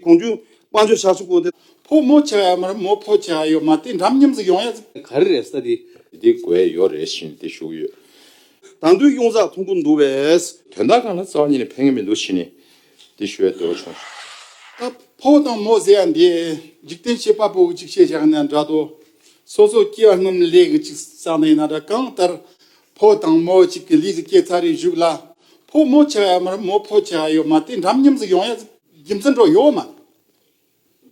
གོང་བརྒྱུད་དཔང་བརྗོད་བྱ་ཆོག་གོ། ཕོ་མོ་བྱ་ཡ་མར་མོ་ཕོ་བྱ་ཡོད་མ་དེ་འདྲམ་མཉམ་ཟིག་ཡོང་ཡ། ག་རེ་རེད་ས་དེ། འདི་དགོས་ཡོད་རེད་བཞིན་དེ་བཞུགས་ཡོད། དང་དུས་གཡུང་ཟག་འཐུང་གི་འདུག་བས། དོན་དག་གང་ལ་རྩ་བ་ཉིད་ནས་ཕན་ངེས་མི་འདུག་བཞིན་དེ་ཞུ་བའི་འདོད་བ་བྱུང། ད་ཕོ་དང་མོ་ཟེར་ཡ་འདི། འཇིག་རྟེན་བྱེད་པ་པོ་གཅིག་ཤེས་བྱ་ན་འདྲ་དོ། སོ་སོ་སྐྱེ་བ་སྔོན་ལས་གི་གཅིག་བསགས་ན་ཡིན་ན་འདྲ་གང་ལྟར། ཕོ་དང་མོ་གཅིག་གི་ལུས་སུ་སྐྱེ་ཚར་རེ་བཞུགས་ལ། ཕོ་མོ་བྱ་ཡ་མར་མོ་ཕོ་བྱ་ཡོད་མ་དེ་འདྲམ་མཉམ་ཟིག་ཡོང་ཡ། རྒྱུ་མཚན་འགྲོ་ཡོད་མ་རེད།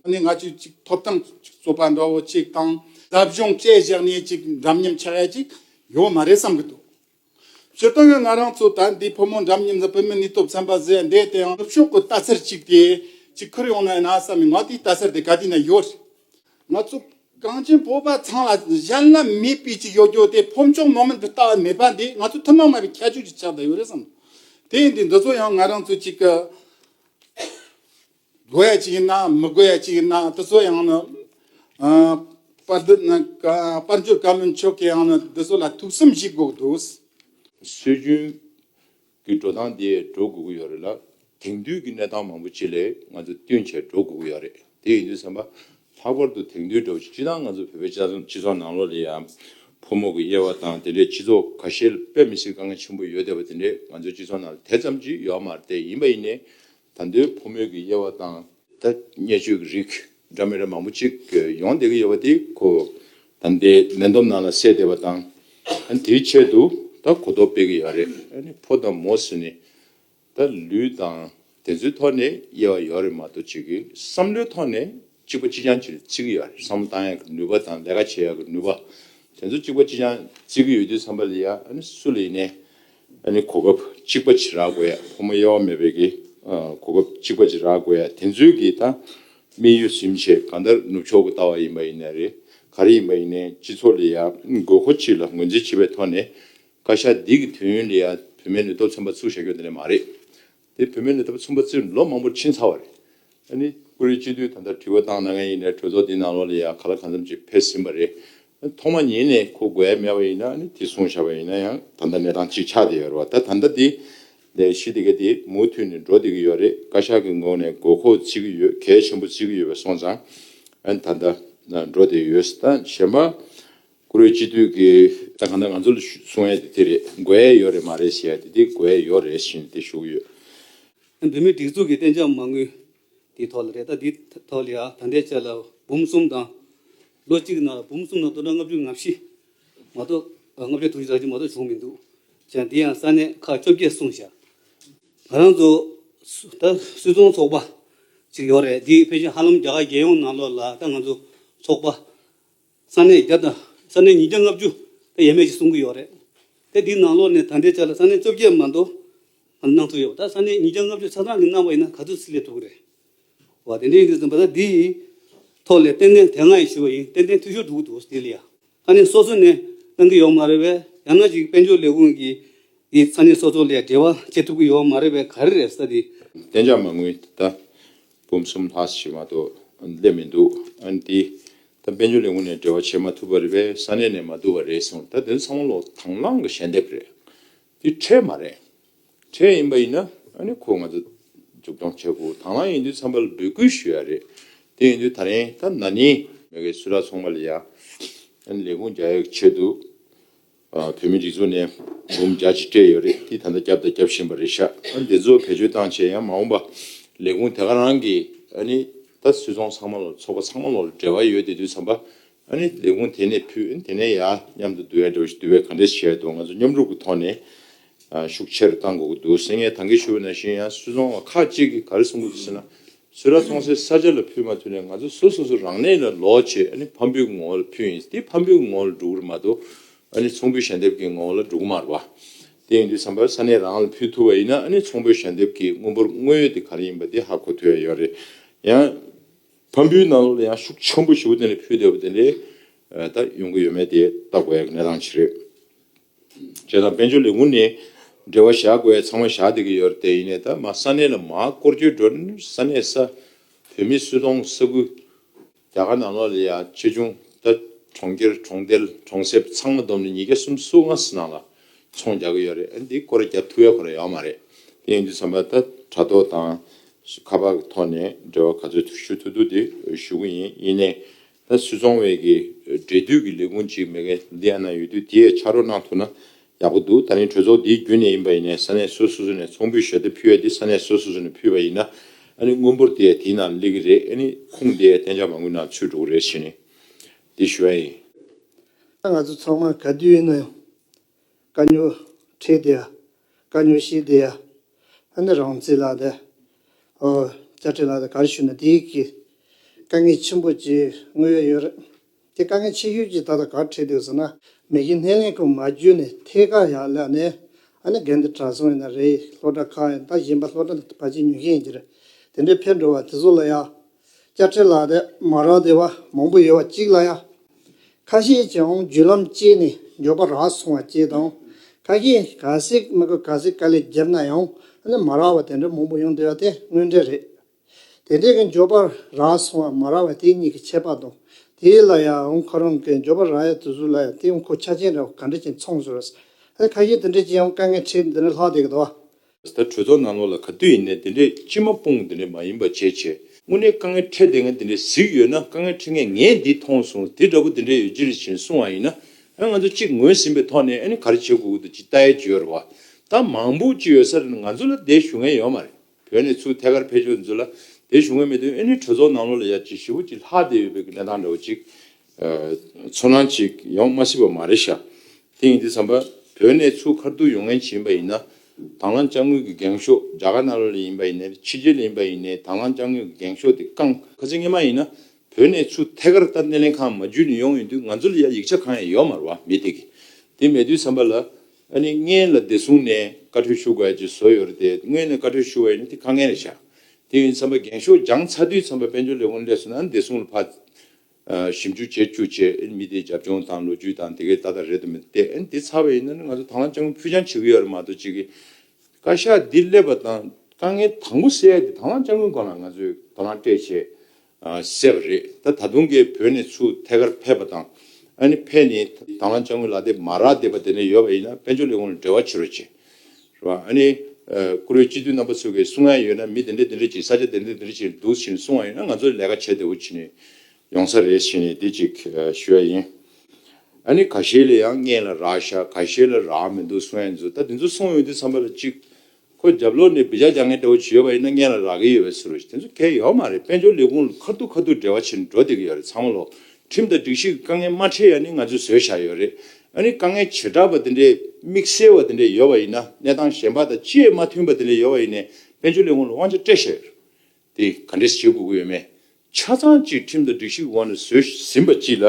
ད་ནི་ང་ཚོས་གཅིག་ཐོབ་ཐང་གཅིག་རྩོད་པ་འདྲ་བོ་གཅིག་དང་རབ་བྱུང་བཅས་བཞག་ནས་གཅིག་འདྲ་མཉམ་བྱ་ཡ་གཅིག་ཡོད་མ་རེད་བསམ་གི་འདུག་ཇོ་དོན་ཡོད་ང་རང་ཚོ་ད་འདི་ཕོ་མོ་འདྲ་མཉམ་ཟེར་བོད་མི་ནུས་སྟོབས་ཚན་པ་ཟེར་འདས་དེའང་ནུབ་ཕྱོགས་ཀྱི་ལྟ་ཚུལ་གཅིག་དེ་གཅིག་ཁུར་ཡོང་ན་ཡིན་ན་བསམ་མི་ང་དེའི་ལྟ་ཚུལ་དེ་ག་དུས་ན་ཡོད་རེད་ང་ཚོ་གངས་ཅན་བོད་པ་ཚང་ལ་གཞན་ལ་མིའི་དཔེ་གཅིག་ཡོད་རྒྱུ་དེ་ཕོ་མཆོག་མོ་མེད་པའི་ལྟ་བ་མེད་པ་འདི་ང་ཚོ་ཐུན་མོང་མ་བའི་ཁྱད་ཆོས་ཀྱི་ཆ་དག་ཡོད་རེད་བསམ། དེ་ཡིན་དུས་འདི་ཚོ་ཡང་ང་རང་ཚོ་གཅིག་གི་དགོས་ཡ་གཅིག་ཡིན་ན་མི་དགོས་ཡ་གཅིག་ཡིན་ན་དེ་ཚོ་ཡང་ནི་དཔར་འདི་ནི་དཔར་འབྱོར་བཀའ་བློན་མཆོག་གིས་ཡང་ནི་འདི་ཚོ་ལ་ཐུགས་བསམ་བཞེས་དགོས་ཀྱི་འདུག། སྲོལ་རྒྱུན་གི་འགྲོ་སྟངས་དེ་འགྲོ་དགོས་ཀྱི་ཡོད་རེད་ལ། དེང་དུས་ཀྱི་གནས་སྟངས་མང་པོ་ཅིག་ལས་ང་ཚོ་བསྟུན་བྱས་འགྲོ་དགོས་ཀྱི་ཡོད་རེད། དེ་ཡིན་དུས་བསམ་པ། ལྷག་པར་དུ་དེང་དུས་འདྲ་བོ་ཞིག་སྤྱི་དང་ང་ཚོ་བོད་པའི་སྤྱི་ཚོགས་ནང་ལོགས་ལས་ཡང། ཕོ་མོ་གི་དབྱེ་བ་དང་དེ་ལས་སྤྱི་ཚོགས་ག་ཤེད་ལ་དཔེ་མི་སྲིད་དཀའ་ངལ་ཆེན་པོ་ཡོད་བསྡད་པ་དེ་འདྲས་ང་ཚོའི་སྤྱི་ཚོགས་ནང་ལ་དེ་ཙམ་ཅིག་ཡོད་མ་རེད་དེ་ཡིན་པ་ཡིན་ནའི། ད་འདོད་ཕོ་མོད་ཀྱི་དབྱེ་བ་དང། ཐ་སྙད་བཅུ་གྱི་རིགས་སྒྲ་མི་རབས་མང་པོ་གཅིག་ཡོང་བསྡད་ཀྱི་ཡོད་པ་དེ་གོ། ད་འདི་མེ་འདོམ་ནང་ལ་བསྲེས་བསྡད་པ་དང། དེའི་ཆེད་དུ་ད་གོ་རྟོགས་སྤེལ་གྱི་ཡོད་རེད། ཕོ་དང་མོ་ཟེར་ནས་ད་ལུས་དང་དེ་ཚོའི་ཐོག་ནས་དབྱེ་བ་ཡོད་རེད་མ་གཏོགས་གཅིག་གི་བསམ་བློའི་ཐོག་ནས་གཅིག་པ་གཅིག་རྐྱང་གཅིག་ལ་བརྩི་གི་ཡོད་རེད་བསམ་བློ་གཏང་ཡག་གི་ནུས་པ་དང་ལས་ཀ་བྱེད་ཡག་གི་ནུས་པ་དེ་ཚོ་གཅིག་པ་གཅིག་རྐྱང་བརྩི་གི་ཡོད་དུས་བསམ་པ་ལ་ཡ། སུ་ལ་ཡིན་ནའི། ཨ་ནི་གོ་སྐབས་གཅིག་པ་ཇི་རག་དགོས་ཡ་ཕོ་མོ་དབྱེ་བ་མེད་པའི་གི་གོ་སྐབས་གཅིག་པ་ཇི་རག་དགོས་ཡ་དེ་ཚོའི་གི་ད་དམིགས་ཡུལ་ཟིམ་བྱེད་གང་ལྟར་ནུབ་ཕྱོགས་གི་ལྟ་བ་ཡིན་པ་ཡིན་ནའི་རེད་ག་རེ་ཡིན་པ་ཡིན་ནའི་སྤྱི་ཚོགས་ལ་ཡ་དགོས་མཁོ་ཅི་ལ་ངོས་འཛིན་བྱེད་པའི་ཐོག་ནས་བཀའ་ཤག་འདི་གི་དུས་ཡུན་ལ་ཡ་བུད་མེད་ནས་སྟོབས་ཆེན་པ་ཚུགས་བྱ་རྒྱུ་དེ་ནས་མ་རེད་དེ་བུད་མེད་ལས་ཐབ་ཚུན་པ་ཙིར་ལོ་མང་པོར་ཕྱིན་ཚར་བ་རེད། ཨ་ནི་ཀུ་རེ་སྤྱི་འཐུས་ད་ལྟ་དྲི་བ་བཏང་གནང་མཁན་ཡིན་ནའི་གྲོས་ཚོགས་འདིའི་ནང་ལོགས་ལ་ཡང་ག་ལ་གང་འཚམ་ཅིག་ཕེབས་ཟིན་པ་རེད། ཐོག་མ་ཉིད་ནས་ཁོ་དགོས་ཡ་མེད་པ་ཡིན་ན་ཨ་ནི་དེ་གསུངས་བཞག་པ་ཡིན་ན་ཡང་ད་ལྟ་གནས་སྟངས་ཅིག་ཆགས་བསྡད་ཡོད་རེད་བ་ད་ད་ལྟ་དེ་ལས་གཞི་དེ་ག་དེ་མུ་མཐུད་ནས་འགྲོ་བསྡད་ཀྱི་ཡོད་རེད་བཀའ་ཤག་གི་ངོས་ནས་དགོས་མཁོ་བརྩི་གི་ཡོད་གལ་ཆེན་པོ་བརྩི་གི་ཡོད་པའི་སོང་ཙང་ཨ་ནི་ད་ལྟ་འགྲོ་བསྡད་ཡོད་སྲིད་ད་གཞན་པ། བཀུར་འོས་སྤྱི་འཐུས་ཀྱི་ད་ག་ནས་ང་ཚོ་གསུང་ཡས་དེ་དེ་རེད་དགོས་ཡས་ཡོད་རེད་མ་རེད་ཞེས་ཡས་དེ་དེ་དགོས་ཡས་ཡོད་རེད་བཞིན་དེ་ཞུགས་ཡོད། བོད་མིའི་སྒྲིག་འཛུགས་ཀྱི་གཏན་འཇགས་མ་དངུལ་དེའི་ཐོག་ལ་རེད་ད་དེའི་ཐོག་ལ་ཡང་ད་ལྟའི་ཆ་ལ་འབུམ་གསུམ་དང། ལོ་གཅིག་གི་ནང་ལ་འབུམ་གསུམ་དང་སྟོང་ཕྲག་ལྔ་བཅུ་ང་བཞི་མ་གཏོགས་ལྔ་བཅུ་དྲུག་ཅུ་རག་ཅུ་མ་གཏོགས་བྱུང་མི་འདུག་ཅིང་དེ་ཡང་ས་གནས་ཁག་བཅོ་བརྒྱད་གསུངས་བཞག་ང་རང་ཚོ་ད་སུད་ཚོང་ཚོགས་པ་ཅིག་ཡོད་རེད་དེའི་ཕེ་ཤིང་ཧ་ལམ་རྒྱ་གར་རྒྱལ་ཡོངས་ནང་ལོགས་ལ་ད་ང་ཚོ་ཚོགས་པ་ས་གནས་བརྒྱ་དང་ས་གནས་ཉིས་བརྒྱ་ལྔ་བཅུ་དེ་ཡས་མས་ཀྱིས་སྲུང་གི་ཡོད་རེད་དེ་དེའི་ནང་ལོགས་ནས་ད་འདྲའི་ཆ་ལ་ས་གནས་བཅོ་བརྒྱད་མ་མདོ་ང་གནང་ཐུབ་ཡོད་ད་ས་གནས་ཉིས་བརྒྱ་ལྔ་བཅུ་ཆ་ཚང་གིས་གནང་བ་ཡིན་ན་ག་ཚོད་སྲིད་ལས་ཐུབ་གི་རེད་བ་དེ་འདྲའི་ཡིན་དུས་ཙམ་པ་ད་འདི་ཡི་ཐོག་ལས་ཏན་ཏན་དེ་སྔ་ཡིས་ཞུས་པ་ཡིན་ཏན་ཏན་འཐུས་ཤོར་འདུག་འདུག་སྟེ་ལ་ཡ་ས་གནས་སོ་སོ་ནས་གནང་གི་ཡོད་མ་རེད་བས་ཡང་ན་ཅིག་དཔལ་འབྱོར་ལས་ཁུངས་ཀྱིས་ཡིས་ས་གནས་སོ་སོ་ལས་འབྲེལ་བ་བྱེད་ཐུབ་གི་ཡོད་མ་རེད་བས་ག་རེ་རེད་ས་དེ། བདེ་འཇགས་མ་དངུལ་ད། འབུམ་གསུམ་ལྷག་བྱེ་མ་ཏོག་སླེབས་མི་འདུག་ཨན་ཏི། ད་དཔལ་འབྱོར་ལས་ཁུངས་ནས་འབྲེལ་བ་བྱེད་མ་ཐུབ་པ་རེད་པས་ས་གནས་ནས་མ་བསྡུ་བ་རེད་གསུངས་ད་དོན་ཚང་མ་ལོག་དང་བླང་གི་ཞལ་འདེབས་རེད། འདི་ཁྲལ་མ་རེད། ཁྲལ་ཡིན་པ་ཡིན་ན་ཨ་ནི་ཁོ་ང་ཚོ་མཇུག་སྐྱོང་བྱ་དགོས་དང་བླང་ཡིན་དུས་ཚང་མ་ལ་འབོད་སྐུལ་ཞུ་ཡ་རེད། དེ་ཡིན་དུས་ད་རིང་ད་ན་ནི། མེ་ཁའི་སུ་ར་ཚོང་པ་ལ་ཡང་ཨ་ནི་ལས་ཁུངས་རྒྱ་ཡོད་ཆེ་འདུག། བོད་མི་རིགས་ཚོ་ནས་འབུམ་བརྒྱ་ཅིག་སྤྲད་ཡོད་རེད་དེ་ད་ལྟ་བརྒྱབ་དང་བརྒྱབ་བཞིན་པ་རེད་ཤག་ཨ་ནི་དེ་ཚོ་བེད་སྤྱོད་བཏང་བྱས་ཡང་མ་འོངས་པ་ལས་ཁུངས་དེ་ག་རང་གི་ཨ་ནི་ད་སུད་ཚོང་ཚང་མ་ལོ་ཚོགས་པ་ཚང་མ་ལོ་འབྲེལ་བ་ཡོད་དེ་དུས་ཚང་པ་ཨ་ནི་ལས་ཁུངས་དེ་ནས་ཕུད་ཨ་ནི་དེ་ནས་ཡ་མཉམ་དུ་འདུ་ཡ་འདྲ་བ་ཞིག་འདུ་བས་ག་འདྲས་བྱས་འདུག་ང་ཚོ་མཉམ་རུབ་ཀྱི་ཐོག་ནས་ཤུགས་ཆེར་བཏང་དགོས་ཀྱི་འདུག་སེང་ངས་ད་གེ་ཞུ་བ་ན་ཞིང་ཡང་སུད་ཚོང་བ་ཁག་གཅིག་གིས་ག་རེ་གསུང་གི་འདུག་ཟེར་ན། ཚོས་ར་ཐོང་སའི་ས་ཆ་ལ་ཕུད་མ་ཐུབ་ནས་ང་ཚོ་སོ་སོ་སོ་རང་གནས་ལ་ལོག་ཆེད་ཨ་ནི་ཕམ་འབུད་ཀྱི་ངོ་བོ་ལ་ཕུད་ཡིན་དེ་ཕམ་འབུད་ཀྱི་ངོ་བོ་ལ་འགྲོ་གི་མ་གཏོགས་ཨ་ནི་ཚོང་འབུད་ཞལ་འདེབས་ཀྱི་ངོ་བོ་ལ་འགྲོ་གི་མ་རེད་པ། དེ་ཡིན་དུས་བསམ་པར་ས་གནས་རང་ལ་ཕུད་ཐུབ་པ་ཡིན་ན་ཨ་ནི་ཚོང་འབུད་ཞལ་འདེབས་ཀྱི་དངུལ་འབོར་དངོས་ཡོད་དེ་ག་རེ་ཡིན་པ་དེ་ཧ་གོ་ཐུབ་ཡ་ཡོད་རེད། ཡང། ཕམ་འབུད་ནང་ལོགས་ལ་ཡང་ཤུགས་ཆེན་པོ་ཞིག་བོ་དེ་ནས་ཕུད་བསྡད་པ་དེ་འདྲའི་ད་ཡོང་གི་ཡོད་མེད་དེ་ལྟ་དགོས་ཡ་གི་གནས་སྟངས་ཤིག་རེད། བྱས་དང་དཔལ་འབྱོར་ལས་ངུ་ནས་འབྲེལ་བ་བཞག་དགོས་ཚང་མ་བཞག་བསྡད་ཀྱི་ཡོད་རེད་དེ་ཡིན་ནས་ད་མ་ས་གནས་ལ་མ་བསྐོར་རྒྱུའི་འགྲོ་ནི་ས་གནས་ས་བོད་མི་སུ་གཏོང་ས་ཁུལ་རྒྱ་གར་ནང་ལོག་ལས་ཡག་ཆེ་ཆུང་ད་གྲོང་ཁྱེར་གྲོང་རྡལ་གྲོང་གསེབ་ཚང་མ་བསྡོམས་ནས་ཉིས་བརྒྱ་གསུམ་གསུ་ང་ས་ནང་ལ་ཚོང་རྒྱག་གི་ཡོད་རེད་ཨ་འདི་སྐོར་རྒྱབ་ཐུག་ཡ་ཁོ་ར་ཡོད་མ་རེད་དེ་ཡིན་དུས་ཚང་མ་ད་དྲ་ཐོག་དང་ཁ་པར་ཐོག་ནས་འབྲེལ་བ་ག་ཚོད་ཞུ་ཐུག་ཐུག་དེ་ཞུ་གི་ཡིན་ཡིན་ནས་ད་སུད་ཚོང་བས་ཀྱི་འབྲེལ་མཐུད་ཀྱི་ལས་ཁུངས་གཅིག་མེ་གྷན་དྷི་ཡ་ན་ཡོད་དུས་དེ་ཡས་ཕྱག་རོགས་གནང་ཐུབ་ན་ཡག་པོ་འདུག་ད་རིང་གྲོས་ཚོགས་འདིའི་རྒྱུན་ནས་ཡིན་པ་ཡིན་ནས་ས་གནས་སོ་སོ་ནས་ཚོང་འབུད་ཞོ་དེ་ཕུལ་བས་དེ་ས་གནས་སོ་སོ་སོ་ནས་ཕུལ་བ་ཡིན་ན་ཨ་ནི་དངུལ་འབོར་དེ་ཡས་དེའི་ནང་སླེ་གི་རེད་ཨ་ནི་ཁུངས་དེ་ཡས་གཏན་འཇགས་མ་དགོས་ན་ཚུད་འགྲོ་གི་རེད་བྱས་ནས་དེ་ཞུ་ཡ་ཡིན། ད་ང་ཚོ་ཚང་མ་ག་དུས་ཡིན་ན་ཡང་ཀ་ཉོ། ཁྲེས་དེ་ཡ། ཀ་ཉོ་ཤི་དེ་ཡ། ཨ་ནི་རང་བརྩིས་ལགས་དེ། ཨོ། བཅའ་ཁྲི་ལགས་དེ་གར་ཞུས་ན་དེ་ཡིག་གི། དཀའ་ངལ་ཆེན་པོ་ཅིག་དངོས་ཡོད་ཡོད་རེད། དེ་དཀའ་ངལ་ཆེ་ཤོས་ཅིག་ད་ལྟ་གར་ཁྲིད་འདུག་ཟེར་ན། མེ་གི་སྣེ་ལེན་ཁང་མ་བརྒྱུད་ནས་ཐད་ཀར་ཡར་བསླེབས་ནས། ཨ་ནི་རྒན་དེ་གྲྭ་སོང་ཡིན་ན་རེད་ཡིན་ལྷོ་བྲག་ཁ་ཡིན་ད་གཞན་པ་ལྷོ་བྲག་ལ་བ་ཅིག་ཉོ་མཁན་ཡིན་གྱི་རེད། དེ་འདྲས་ཕེབས་འགྲོ་བ་དེ་ཚོ་ལ་ཡང། སྐྱབས་ཆེན་ལགས་དེ་མ་རག་བདེ་བ་མང་པོ་ཡོད་བ་གཅིག་ལ་ཡང། ཁ་ཤས་ཀྱིས་འང་བརྒྱུད་ལམ་སྤྱད་ནས་མགྱོགས་པ་རག་སོང་བ་བཅས་དང། ཁ་ཤས་ཀྱིས་ག་ཟིག་མི་དགོས་ག་ཟིག་དཀའ་ལས་བརྒྱབ་ན་ཡང་ནི་མ་རག་བ་དེ་འདྲ་མང་པོ་ཡོང་བསྡད་བ་དེ་དངོས་འབྲེལ་རེད། དེ་འདྲས་ཀྱི་མགྱོགས་པ་རག་སོང་བ་མ་རག་བ་དེ་གཉིས་ཀྱི་ཁྱད་པར་དང། དེ་ལ་ཡང་ཁོ་རང་གི་མགྱོགས་པ་རག་ཡ་དུས་ཟུར་ལ་ཡང་དེའང་ཁོ་ཆ་ཅན་རེད་བ་ག་འདྲ་ཅིག་མཚང་བཟོ་རེས། ཨ་ནི་ཁ་ཤས་དེ་འདྲས་ཀྱིས་ཡང་དཀའ་ངལ་འཕྲད་འདི་འདྲ་ལྷག་བསྡད་ཀྱི་འདུག་བ། ད་གྲོས་ཚོགས་ནང་ལོགས་ལ་ག་དུས་ཡིན་ནས་དེ་འདྲའི་ལྕི་མོ་སྤུངས་དེ་འདྲའི་མ་ཡིན་པ་བྱས་བྱས་དངོས་གནས་དཀའ་ངལ་འཕྲད་དེ་ངས་དེ་འདྲའི་གཟིགས་ཡོད་ན་དཀའ་ངལ་འཕྲད་མཁན་ངས་འདི་མཐོང་སོང་དེ་འདྲ་པོ་དེ་འདྲའི་ཡོད་ཅི་རེད་བཞིན་གསུངས་བ་ཡིན་ན་ང་ཚོ་གཅིག་ངོས་ཟིན་པའི་ཐོག་ནས་ཨ་ནི་ག་རེ་བྱེད་དགོས་ཀྱི་འདུག་ཅི་ལྟའི་བརྗོད་རེད་བ་ད་མང་པོ་ཅི་ཡོད་ས་རེད་ང་ཚོ་ལ་དེ་ཞུ་མཁན་ཡོད་མ་རེད་བོད་ནས་ཚུར་ཐད་ཀར་ཕེབས་ཆོག་འདི་ཚོ་ལ་དེ་ཞུ་མཁན་མེད་དུས་ཨ་ནི་གྲོས་ཚོགས་ནང་ལོགས་ལ་ཡ་ཅི་ཞི་བོ་ཅི་ལྷག་བསྡད་ཡོད་པའི་གི་ལེན་སྟངས་འདྲ་བོ་ཅིག་ཚོར་སྣང་ཅིག་ཡོང་མ་སྲིད་པ་མ་རེད་ཤག་དེ་ཡིན་དུས་བསམ་པ། བོད་ནས་ཆུ་ཁར་སྡུག་ཡོང་ངན་བྱེད་ཡིན་པ་ཡིན་ན། དྭང་བླངས་དཔྱ་དངུལ་གྱི་འགེངས་ཤོག་རྒྱ་གར་ནཱ་རོ་ལས་ཡིན་པ་ཡིན་ནའི་ཕྱི་རྒྱལ་ལས་ཡིན་པ་ཡིན་ནའི་དྭང་བླངས་དཔྱ་དངུལ་གྱི་འགེངས་ཤོག་དེ་བསྐང། གལ་སྲིད་ངེས་མ་ཡིན་ན། བོད་ནས་ཆུ་ཐད་ཀར་ལྟར་སྣེ་ལེན་ཁང་མ་བརྒྱུད་ནས་ཡོང་ཡོད་དུས་ང་ཚོ་ལ་ཡ་ཡིག་ཆ་གང་ཡང་ཡོད་མ་རེད་བ་མི་དེ་གི། དེ་མེད་དུས་བསམ་པ། ལ་ཨ་ནི་སྔན་ལ་བདེ་བསྲུང་ནས་བཀའ་ཁྲོལ་ཞུ་དགོས་ཀྱི་བཟོ་ཡོད་རེད་དེ་སྔོན་ནས་བཀའ་ཁྲོལ་ཞུ་བ་ཡིན་ན་དེ་ཁ་ངན་རེད་ཤག་དེ་ཡིན་དུས་བསམ་པ་འགེངས་ཤོག་སྦྱང་ཚར་དུས་བསམ་པ་དཔལ་འབྱོར་ལས་ཁུངས་ལས་བཟོ་ན་བདེ་བསྲུང་ལ་ཕ། ཞིབ་འཇུག་བྱེད་རྒྱུ་བཅས་མི་དེའི་རྒྱབ་ལྗོངས་དང་ལོ་རྒྱུས་དང་དེ་གའི་ལྟ་སྟངས་རེད་དམ་མིན་ཏེ་འདི་ཚར་བ་ཡིན་ན་ནི་ང་ཚོ་དྭང་བླངས་སྤྱང་ཀུ་ཕུད་སྤྱང་བྱེད་ཀྱི་ཡོད་རེད་མ་གཏོགས་ཅི་གི། བཀའ་ཤག་འདི་སླེབས་པ་དང་དཀའ་ངལ་དང་པོ་སེལ་ཏེ་དྭང་བླངས་སྤྱང་ཀུའི་སྒང་ལ་ང་ཚོས་དྭང་བླངས་སྤྲད་ཆེད་བསད་པ་རེད་ད་ད་དུང་གི་བོད་ནས་ཚུར་ཐད་ཀར་ཕེབས་པ་དང་ཨ་ནི་ཕེབས་ནས་དྭང་བླངས་སྤྱང་ཀུའི་ལག་དེབ་མ་རག་བསྡད་པ་དེ་འདྲ་ཡོད་པ་ཡིན་ན་དཔལ་འབྱོར་ལས་ཁུངས་ལ་འབྲེལ་བ་བྱེད་རོགས་བྱེད། རེད་བ། ཨ་ནི། བཀུར་འོས་སྤྱི་འཐུས་རྣམ་པ་ཚོས་གི་སྲུང་ཡ་ཡོད་ན་མི་དེ་འདྲས་དེ་འདྲས་ཀྱིས་ས་ཆ་དེ་འདྲས་དེ་འདྲས་ཀྱིས་འདུག་བཞིན་སྲུང་བ་ཡོད་ན་ང་ཚོས་ལས་ཀ་བྱེད་བདེ་བོ་བྱེད་ནི་ཡོང་ས་རེད་བཞིན་ནི་དེ་ཅིག་ཞུ་ཡ་ཡིན། ཨ་ནི་ག་ཤེད་ལ་ཡང་མངལ་ལ་རག་ཤ་ག་ཤེད་ལ་རག་མི་འདུག་སྲུང་ཡ་འདི་ཚོ་ད་དེ་ཚོ་སྲུང་འོས་འདི་ཚང་པ་ལ་ཅིག་ཁོ་རྒྱབ་ལོག་ནས་བི་ཇ་རྒྱག་མཁན་འདྲ་བོ་ཅིག་ཡོད་པ་ཡིན་ན་མངལ་ལ་རག་གི་ཡོད་བས་སུ་རེད་དེ་ཚོ་གལ་ཡོད་མ་རེད་དཔལ་འབྱོར་ལས་ཁུངས་ལ་ཁ་ཐུག་ཁ་ཐུག་འབྲེལ་བ་བྱེད་འགྲོ་བདེ་གི་ཡོད་རེད་ཚང་མ་ལོག་ཁྲིམས་དང་སྒྲིག་གཞི་གི་དཀའ་ངལ་མ་འཕྲད་ཡ་ནི་ང་ཚོས་བཟོས་བཞག་ཡོད་རེད། ཨ་ནི་དཀའ་ངལ་བྱེ་བྲག་པ་དེ་འདྲའི་དམིགས་བསལ་བ་དེ་འདྲའི་ཡོད་པ་ཡིན་ན་གནས་སྟངས་གཞན་པ་དང་ཅིས་མ་མཐུན་པ་དེ་འདྲའི་ཡོད་པ་ཡིན་ནས་དཔལ་འབྱོར་ལས་ཁུངས་ལ་དབང་ཆ་སྤྲད་བཞག་ཡོད་རེད། དེ་ག་འདྲས་བྱེད་དགོས་ཀྱི་ཡོད་མེད་ཆ་ཚང་ཅིག་ཁྲིམས་དང་སྒྲིག་གཞི་གི་འོག་ནས་བཟོས་ཟིན་པ་ཅིག་ལ་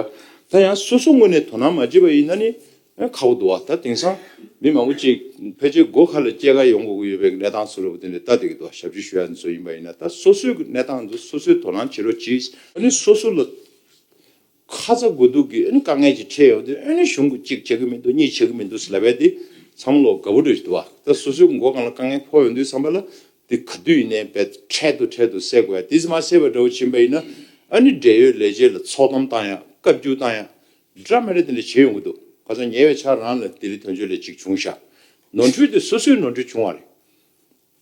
ད་ཡང་སོ་སོ་ངོས་ནས་དོ་སྣང་མ་བྱེད་པ་ཡིན་ན་ནི་ཁ་བོ་འདུག་ཨ་ད་དེང་སང་མི་མང་པོ་གཅིག་ཕལ་ཆེར་སྒོ་ཁ་ལ་སྐྱེས་སྐར་ཡོང་དགོས་ཀྱི་ཡོད་པའི་གནས་སྟངས་ཚུལ་ལ་བརྟེན་ནས་ལྟ་དེ་གི་ཐོག་ཞབས་ཕྱི་ཞུ་ཡ་ནི་ཚོད་ཡིན་པ་ཡིན་ན་ད་སོ་སོའི་གི་གནས་སྟངས་འདི་སོ་སོའི་དོ་སྣང་བྱེད་རོགས་གྱིས། ཨ་ནི་སོ་སོ་ལ་ཁ་ཚ་དགོས་གཏུགས་གི་ཨ་ནི་དཀའ་ངལ་གྱི་འཕྲད་ཡོང་དུས་ཨ་ནི་གཞུང་གི་གཅིག་བྱེད་ཀྱི་མི་འདུག་གཉིས་བྱེད་ཀྱི་མི་འདུག་ཟེར་ལབ་པས་དེ་མཚམས་བློ་དགའ་བོ་འགྲོ་བཞིན་འདུག་ཨ་ད་སོ་སོའི་མགོ་གང་ལ་དཀའ་ངལ་ཕོག་ཡོང་དུས་བསམ་པ་ལ་དེ་ག་དུས་ཡིན་ནའི་བས་འཕྲལ་དུ་འཕྲལ་དུ་སེལ་དགོས་ཡ་དེ་ཙི་མ་སེལ་བའི་འདྲ་བོ་བྱིན་པ་ཡིན་ན་ཨ་ནི་འབྲེལ་ཡོད་ལས་བྱེད་ལ་ཚོགས་གཏམ་བཏང་ཡ་བཀའ་བརྒྱུད་བཏང་ཡ་རི་བྲག་མེ་རི་དེ་ལས་བྱེད་ཡོང་གི་འདུག་ག་ཚོད་ཉེ་བའི་ཆར་རང་ལ་དེ་རིགས་དོན་གཅོད་ལས་གཅིག་བྱུང་ཤག་ནོར་འཁྲུལ་དེ་སོ་སོའི་ནོར་འཁྲུལ་བྱུང་བ་རེད།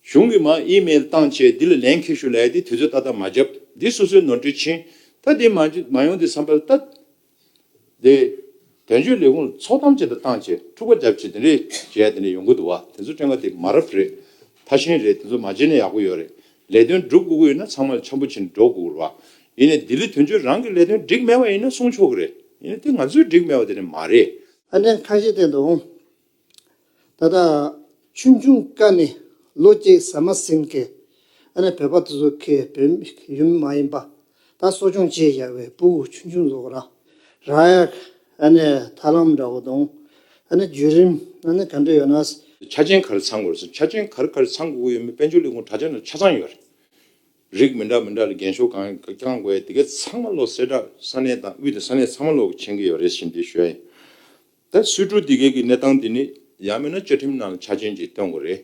གཞུང་གིས་མ་ཨི་མེལ་བཏང་བཅས་འདི་ལ་ལན་ཁེ་ཞུ་ལས་དེ་དུས་ཚོད་ཏག་ཏག་མ་བརྒྱབ་འདི་སོ་སོའི་ནོར་འཁྲུལ་ཕྱིན་ད་དེ་མ་ཡོང་དེ་བསམ་པ་ལྟ་དེ། དོན་གཅོད་ལས་ཁུངས་ལ་ཚོགས་གཏམ་ཅི་འདྲ་བཏང་བཅས་འཁྲུག་པ་བརྒྱབ་བཅས་དེ་འདྲས་བྱས་དེ་འདྲས་ཡོང་གི་འདུག་བ་དེ་ཚོ་སྤྲེལ་ངག་དེ་མ་རབས་རེད་ཐ་ཤིང་རེད་དེ་ཚོ་མ་བརྗེད་ན་ཡག་པོ་ཡོད་རེད་ལས་དོན་སྒྲུབ་དགོས་ཀྱི་ཡོད་ན་ཚང་མ་འཆམ་པོ་བྱེད་ནས་འགྲོ་དགོས་ཀྱི་རེད། ཡིན་ནའི་ལྡི་ལི་དོན་གཅོད་རང་གི་ལས་དོན་འགྲིག་མེད་པ་ཡིན་ན་གསུང་ཆོག་གི་རེད། ཡིན་ནའི་དེ་ང་ཚོས་འགྲིག་མེད་པ་དེ་ནི་མ་རེད། ཨ་ནེ་ཁ་ཤས་བསྟན་འདུག་ད་ལྟ་ཆུང་ཆུང་དཀའ་ནི་ལོ་གཅིག་ཟ་མ་ཟིན་གི་ཨ་ནེ་བོད་པ་དེ་ཚོ་གི་བོད་ཡུལ་མི་མ་ཡིན་པ། ད་གསོ་སྦྱོང་བྱེད་བཞག་པའི་སྤུ་བོ་ཆུང་ཆུང་ཟོག་ར་ར་ཡག་ཨ་ནི་ཐར་ལམ་འདྲ་བོ་དང་ཨ་ནི་བརྒྱུད་རིམ་ཨ་ནི་ག་འདྲ་ཡོད་ན། ཆ་ཆེན་ག་རེ་ཚང་དགོས་རེད་ཟེར་ཆ་ཆེན་ག་རེ་ག་རེ་ཚང་དགོས་ཀྱི་ཡོད་མེད་དཔལ་འབྱོར་ལས་ཁུངས་དྲ་ཚན་ན་ཆ་ཚང་ཡོད་རེད། རིགས་མི་འདྲ་མི་འདྲ་ལ་འགན་ཤོག་གང་བསྐྱང་དགོས་ཡ་དེ་ག་ཚང་མ་ལོ་སེར་དྲ་ས་གནས་ཏང་ཨུད་དང་ས་གནས་ཚང་མ་ལོ་མཁྱེན་གྱི་ཡོད་རེད་བཞིན་དེ་ཞོལ་ཡིན། ད་སུས་དྲུག་དེ་གའི་གི་གནས་སྟངས་དེ་ནི་ཡག་མེད་ན་བཅའ་ཁྲིམས་ནང་ལ་ཆ་ཆེན་གྱི་བཏོན་དགོས་རེད།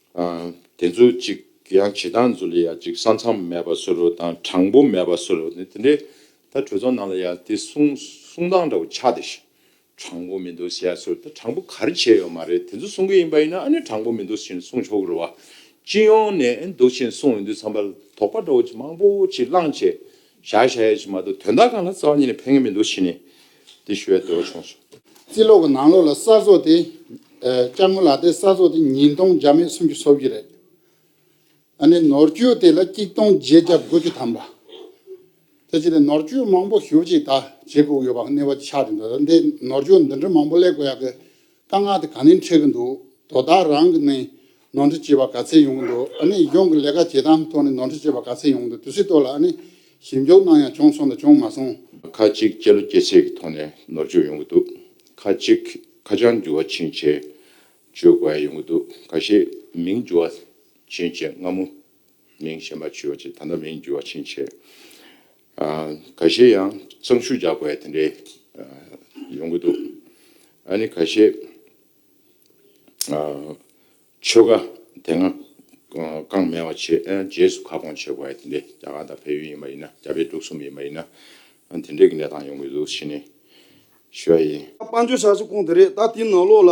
དེ་ཚོ་ཅིག་ཡང་བྱེད་སྟངས་ཚོ་ལ་ཡང་ཅིག་ས་མཚམས་མེད་པ་བཟོ་རོགས་དང་དྲང་པོ་མེད་པ་བཟོ་རོགས་ནི་དེ་འདྲའི་ད་གྲོས་ཚོགས་ནང་ལ་ཡང་དེ་གསུང་གསུང་སྟངས་འདྲ་བོ་ཆགས་འདི་ཞིག་དྲང་པོ་མི་འདུག་ཟེར་ཚོར་ད་དྲང་པོ་ག་རེ་བྱས་ཡོད་མ་རེད་དེ་ཚོ་གསུང་གི་ཡིན་པ་ཡིན་ན་ཨ་ནི་དྲང་པོ་མི་འདུག་ཕྱིན་གསུང་ཆོག་གི་རེད་བ། སྤྱི་ཡོངས་ནས་འདུག་ཕྱིན་གསུང་འོས་འདུག་ཚང་པ་དོགས་པ་འདྲ་བོ་ཅིག་མང་པོ་ཅིག་བླངས་བྱས་བཞག་བཞག་ཡོད་ཅེས་མ་གཏོགས་དོན་དག་གང་ལ་རྩ་བ་ཉིད་ནས་ཕན་ངེས་མི་འདུག་ཕྱིན་ནས་འདི་ཞུ་བའི་འདོད་བློ་བྱུང་སོང། རྩིས་ལོག་གི་ནང་ལོག་ལ་གསར་བཟོ་དེ། སྐྱག་དངུལ་ལག་དེབ་གསར་བཟོ་དེ་ཉིས་སྟོང་བརྒྱ་མེད་སུམ་ཅུ་སོ་བཞི་རེད། ཨ་ནི་ནོར་བཅོས་དེ་ལ་གཅིག་སྟོང་བརྒྱད་བརྒྱ་དགུ་བཅུ་ཐམ་པ། དེ་བྱས་ཏེ་ནོར་བཅོས་མང་པོ་ཞུ་ཅིག་ད་བྱེད་དགོས་ཀྱི་ཡོད་པ་ངེས་པ་ཆགས་ཀྱི་འདུག་འདི་ནོར་བཅོས་འདི་འདྲ་མང་པོ་གླེགས་དགོས་ཡག་གི། དཀའ་ངལ་དེ་ག་ནས་འཕྲད་གི་འདུག་དོ་བདག་རང་གི་ནས་ནོར་འཁྲུལ་བྱས་པ་ག་ཚད་ཡོང་གི་འདུག་ཨ་ནི་གཞུང་གི་ལས་ཀ་བྱེད་སྟངས་ཐོག་ནས་ནོར་འཁྲུལ་བྱས་པ་ག་ཚད་ཡོང་གི་འདུག་དུས་ཚོད་ཐོག་ལ་ཨ་ནི་ཞིབ་འཇུག་གནང་ཡང་བྱུང་སོང་དང་བྱུང་མ་སོང། ཁ་ཅིག་སྤྱི་ལོ་སྐྱེ་ཚེས་ཀྱི་ཐོག་ནས་ནོར་འཆུག་ཡོང་གི་འདུག་ཁ་ཅིག་ཁ་བྱང་འགྱུར་བ་ཕྱིན་ཆད་བཅོས་དགོས་ཡ་ཡོང་གི་འདུག་ག་ཤེད་མིང་འགྱུར་བ་ཕྱིན་ཆད་སྔ་མོ་མིང་གཞན་པ་བཅོས་བ་ཅི་ད་ལྟ་མིང་འགྱུར་བ་ཕྱིན་ཆད་ག་བཞེས་ཡང་གཙང་ཤུལ་རྒྱག་པའི་དེ་འདྲའི་ཡོང་གི་འདུག་ཨ་ནི་ག་བཞེས་ཆོལ་ཁ་དེ་སྔ་རྐང་མེད་བ་བྱས་རྗེས་སུ་ཁ་སྐོང་བྱས་པའི་དེ་འདྲའི་རྒྱ་གར་དང་བལ་ཡུལ་ཡིན་པ་ཡིན་ན་རྒྱ་བལ་འབྲུག་གསུམ་ཡིན་པ་ཡིན་ན་དེ་འདྲའི་གི་གནས་སྟངས་ཡོང་གི་འདུག་ཕྱི་ནས་ཞུ་བ་ཡིན། དཔལ་འབྱོར་ཆགས་ཆེ་ཁོང་དེ་རེད་ད་དེའི་ནང་ལོགས་ལ་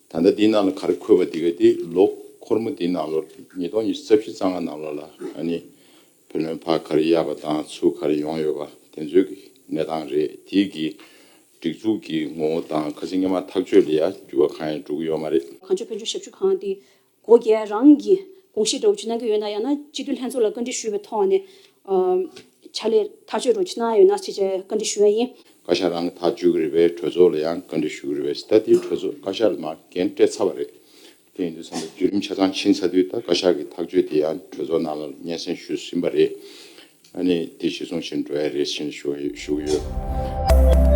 ད་ལྟ་དེའི་ནང་ལ་ག་རེ་འཁོད་པ་དེ་ག་དེ་ལོ་འཁོར་མོ་དེའི་ནང་ལོར་ཉིས་སྟོང་ཉི་ཤུ་རྩ་བཞི་རྩ་ལྔ་ནང་ལོར་ལ་ཨ་ནི་བུ་ལོན་ཕ་ག་རེ་གཡར་བ་དང་ཚུལ་ག་རེ་ཡོང་ཡོད་པ་དེ་ཚོའི་གི་གནས་སྟངས་རེད་དེའི་གི་སྒྲིག་འཛུགས་གི་ངོ་བོ་དང་ཁ་ཚིག་སྙན་མ་ཐག་གཅོད་ལ་ཡ་འགྱུར་བ་གང་ཡང་འགྲོ་གི་ཡོད་མ་རེད། གངས་ལྗོངས་ཕན་ཚུན་ཞབས་ཞུ་ཁང་དེ། གོ་རྒྱལ་རང་གིས་དགོངས་བཞེས་སྒྲོག་རྒྱུ་གནང་གི་ཡོད་ན་ཡང་ན་སྤྱི་འཐུས་ལྷན་ཚོགས་ལ་བཀའ་འདྲི་ཞུས་པའི་ཐོག་ནས་ཕྱག་ལས་ཐག་གཅོད་སྒྲོག་རྒྱུ་གནང་ཡོད་ན་ཞེས་བཅས་བཀའ་འདྲི་ཞུ་བ་ཡིན། བཀའ་ཤག་རང་གི་ཐག་གཅོད་ཀྱི་རེ་བའི་གྲོས་ཚོགས་ལ་ཡང་བཀའ་འདྲི་ཞུ་གི་རེ་བས་ད་ལྟའི་གྲོས་ཚོགས་བཀའ་ཤག་ལ་མ་འགན་སྤྲད་ཚར་བ་རེད། དེ་ཡིན་དུས་བསམ་པའི་བརྒྱུད་རིམ་ཆ་ཚང་ཕྱིན་ཚར་དུས་ད་བཀའ་ཤག་གི་ཐག་གཅོད་དེ་ཡང་གྲོས་ཚོགས་ནང་ལ་སྙན་སེང་ཞུས་ཟིན་པ་རེད། ཨ་ནི་དེ་གཞི་བཟུང་བཞིན་འགྲོ་ཡ་རེད་བཞིན་བཞུགས་ཡོད།